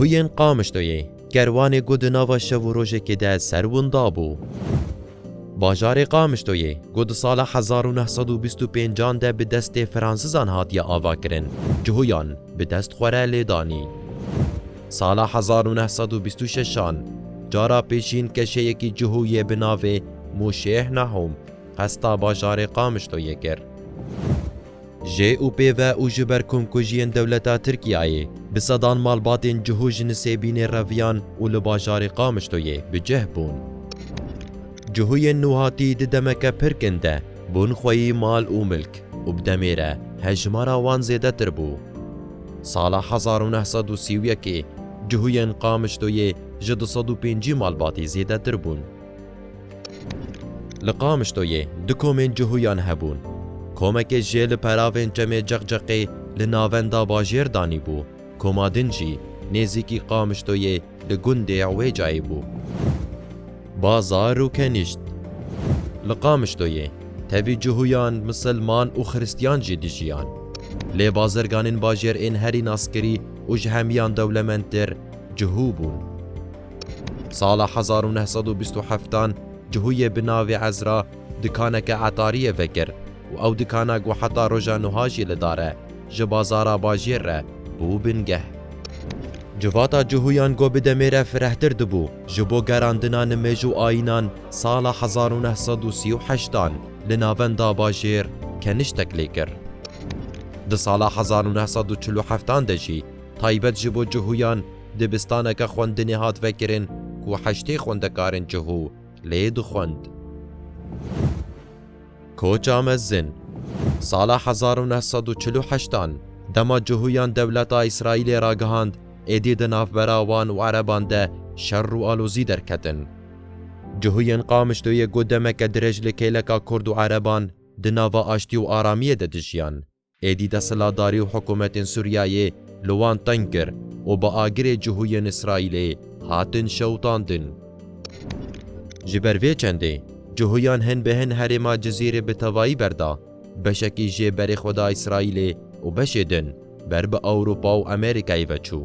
Cihuyên Qamişloyê kerwanê ku di nava şev û rojekê de ser winda bû. Bajarê Qamişloyê ku di sala hezar û neh sed û bîst û pêncan de bi destê Fransizan hatiye avakirin, cihuyan bi dest xwe re lêdanî. Sala hezar û neh sed û bîst û şeşan cara pêşîn keşeyekî cihû yê bi navê Mûşêh Nahûm qesta bajarê Qamişloyê kir. Jê û pê ve û ji ber komkujiyên dewleta Tirkiyeyê bi sedan malbatên cihû ji Nisêbînê reviyan û li bajarê Qamişloyê bi cih bûn. Cihûyên nûhatî di demeke pir kin de bûn xweyî mal û milk û bi demê re hejmara wan zêdetir bû. Sala hezar û neh sed û sî û yekê cihûyên Qamişloyê ji du sed û pêncî malbatî zêdetir bûn. Li Qamişloyê du komên cihûyan hebûn. Komekê jê li peravên çemê Ceqceqê li navenda bajêr danîbû, koma din jî nêzîkî Qamişloyê, Di gundê ya wê cayê bû. Bazar û kenîşt. Li Qamişloyê tevî cuhuyan, misilman û xiristyan jî dijiyan. Lê bazirganên bajêr ên herî naskirî û ji hemiyan dewlemendtir cuhû bûn. Sala hezar û neh sed û bîst û heftan cuhuyê bi navê Ezra, Dikaneke etariyê vekir û ew dikana ku heta roja nuha jî li dar e, ji bazara bajêr re bû bingeh. Civata cuhuyan ku bi demê re firehtir dibû ji bo gerandina nimêj û ayînan sala hezar û neh sed û sî û heşt dan li navenda bajêr keniştek lê kir. Di sala hezar û neh sed û çil û heftan de jî taybet ji bo cuhuyan dibistaneke xwendinê hat vekirin ku heştê xwendekarên cuhû, lê dixwend. Koça mezin, Sala hezar û neh sed û çil û heşt an, dema cihûyan dewleta Îsraîlê ragihand, êdî di navbera wan û ereban de şer û alozî derketin. Cihûyên Qamişloyê got demeke dirêj li kêleka kurd û ereban di nava aştî û aramiyê de dijiyan. Êdî desthilatdarî û hikûmetên Sûriyeyê li wan teng kir û bi agirê cihû yên Îsraîlê hatin şewitandin. Ji ber vê çendê cihûyan hin bi hin herêma Cizîrê bi tevayî berda, beşekî jê berê xwe da Îsraîlê û beşê din ber bi Ewropa û Amerîkayê ve çû.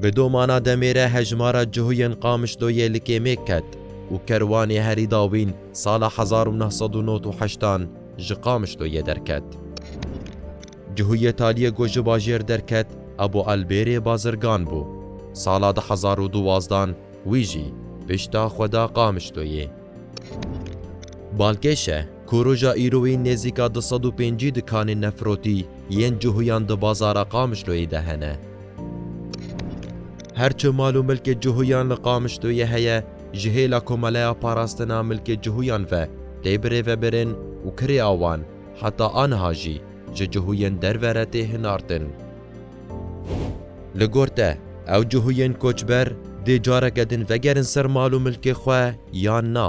Bi domana demê re hejmara cihû yên Qamişloyê li kêmêk ket û kerwanê herî dawîn sala hezar û neh sed û nod û heştan, ji Qamişloyê derket. Cihûyê Taliyê ku ji bajêr derket a bo Elbêrê bazirgan bû. Sala du hezar û duwazdan wî jî pişta xwe da Qamişloyê. Balkêşe ku roja îroyî nêzîka du sed û pêncî dikanên nefrotî yên cihûyan di bazara Qamişloyê de hene. Her çi mal û milkê cihûyan li Qamişloyê heye ji hêla Komeleya Parastina Milkê Cihûyan ve tê birêvebirin û kirê awan heta aniha jî ji cihûyên derve re tê hinartin. Li gor te, ew cihûyên koçber dê careke din vegerin ser mal û milkê xwe yan na?